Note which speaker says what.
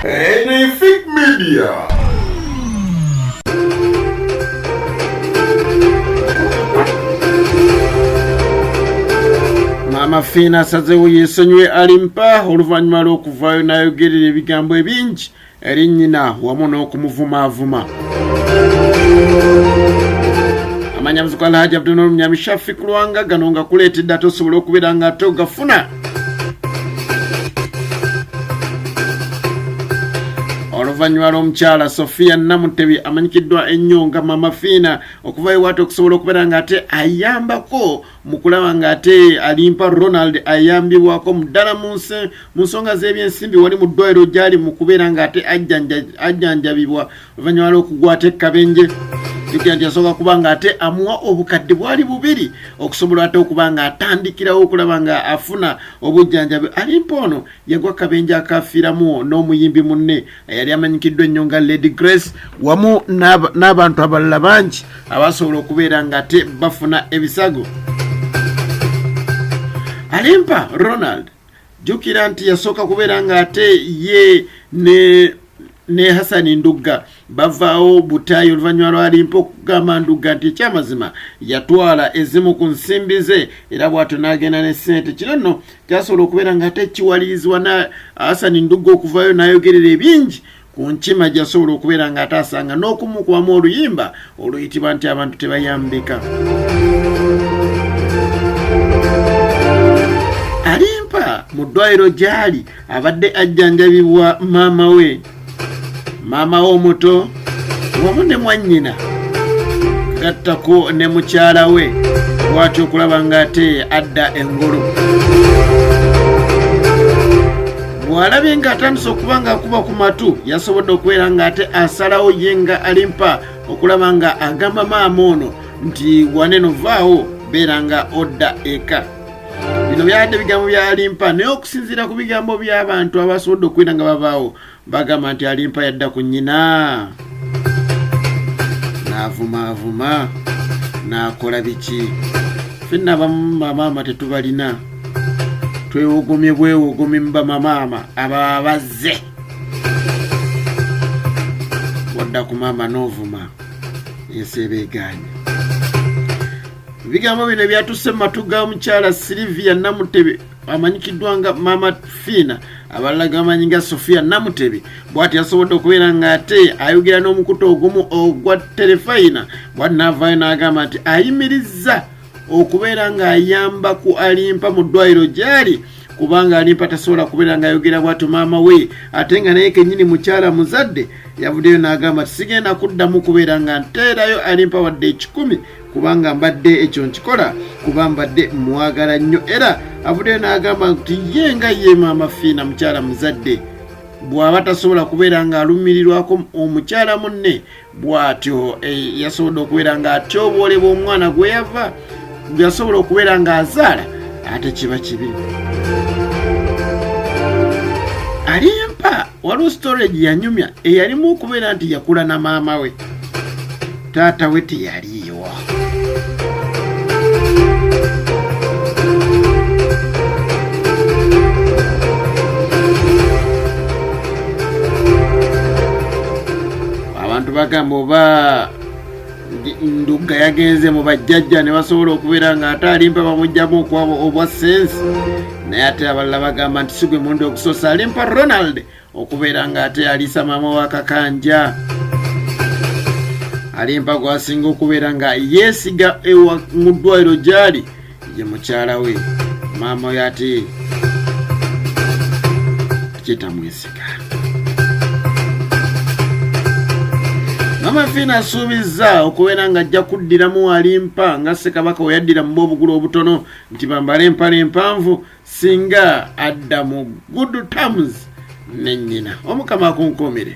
Speaker 1: Anything Media. Maama Fiina asazeewo yeesonyiwe Alimpa oluvannyuma lw'okuvaayo n'ayogerera ebigambo ebingi eri nnyina wamu n'okumuvumaavuma amanya muziku alhaji abdunol munyami shafik lwanga gano nga kuleetedde ate osobola okubeera nga ate ogafuna oluvannyuma lw'omukyala sofiya namutebi amanyikiddwa ennyo nga mama fiina okuva ewaate okusobola okubeera nga ate ayambako mu kulaba ng'ate alimpa ronald ayambibwako muddala mu nsonga z'ebyensimbi wali mu ddwaliro gyali mu kubeera ng'ate ajjanjabibwa oluvannyuma lw'okugwata ekkabenje jukira nti yasooka kuba ng'ate amuwa obukadde bwali bubiri okusobola ate okuba ng'atandikirawo okulaba nga afuna obujjanjabi alimpa ono yagwa kabenje akafiiramu n'omuyimbi munne eyali amanyikiddwa ennyo nga lady grace wamu n'abantu abalala bangi abasobola okubeera ngate bafuna ebisago alimpa ronald jukira nti yasooka kubeera ng'ate ye ne ne hasani ndugga bavaawo butaayi oluvannyuma lwalimpa okugamba ndugga nti ekyamazima yatwala ezimu ku nsimbi ze era bw'atyo n'agenda ne ssente kino nno kyasobola okubeera nga ate kiwalirizibwa na asani ndugga okuvayo n'ayogerera ebingi ku nkima gyasobola okubeera nga ate asanga n'okumukubamu oluyimba oluyitibwa nti abantu tebayambika alimpa mu ddwaliro gy'ali abadde ajjanjabibwa maama we maama w'omuto wamu ne mwannyina gattako ne mukyala we bwati okulaba ng'ate adda engulu bw'alabye ng'atandise okuba ng'akuba ku matu yasobodde okubeera ng'ate asalawo ye nga alimpa okulaba nga agamba maama ono nti waneno vaawo beera nga odda eka bino byadde bigambo byalimpa naye okusinziira ku bigambo by'abantu abasobodde okuwina nga babaawo bagamba nti alimpa yadda ku nnyina n'avumaavuma n'akola biki fenna abamu bamaama tetubalina twewogomye bwewogomye mu bamamaama ababa bazze wadda ku maama n'ovuma ensi ebeegaanye ebigambo bino ebyatusse mu matu ga mukyala silivia namutebe amanyikiddwa nga mama fiina abalala gamanyi nga sofia namutebe bwati yasobodde okubeera nga ate ayogera n'omukutu ogumu ogwa terefayina bwati naavaayo n'agamba nti ayimirizza okubeera ng'ayamba ku alimpa mu ddwaliro gyali kubanga alimpa tasobola kubeera ng'ayogera bwatyo maama we ate nga naye kenyini mukyala muzadde yavuddeyo n'agamba tisigenda kuddamu kubeera nga nteerayo alimpa wadde ekikumi kubanga mbadde ekyo nkikola kuba mbadde mwagala nnyo era avuddeyo n'agamba nti ye nga ye maama fiina mukyala muzadde bw'aba tasobola kubeera ng'alumirirwako omukyala munne bw'atyo eh, yasobodde okubeera ng'atyoboolebwa omwana gwe yava gwe yasobola okubeera ng'azaala ate kiba kibi alimpa waliwo storage yanyumya eyalimu okubeera nti yakula na maama we taata we teyaliiwo abantu bagamba oba ndugga yagenze mu bajjajja ne basobola okubeera nga ate alimpa bamugjamu okwabo obwa sense naye ate abalala bagamba nti sigwe mundi okusoosa alimpa ronald okubeera nga ate aliisa maama wa kakanja alimpa gwasinga okubeera nga yeesiga ewa mu ddwaliro gyali ye mukyala we maama oyo ati kyetamwesiga amafiina asuubizza okubeera nga ajja kuddiramu alimpa nga ssekabaka weyaddira mu boobugulu obutono nti bambale empale empanvu singa adda mu good terms ne nnyina omukama akunkuumire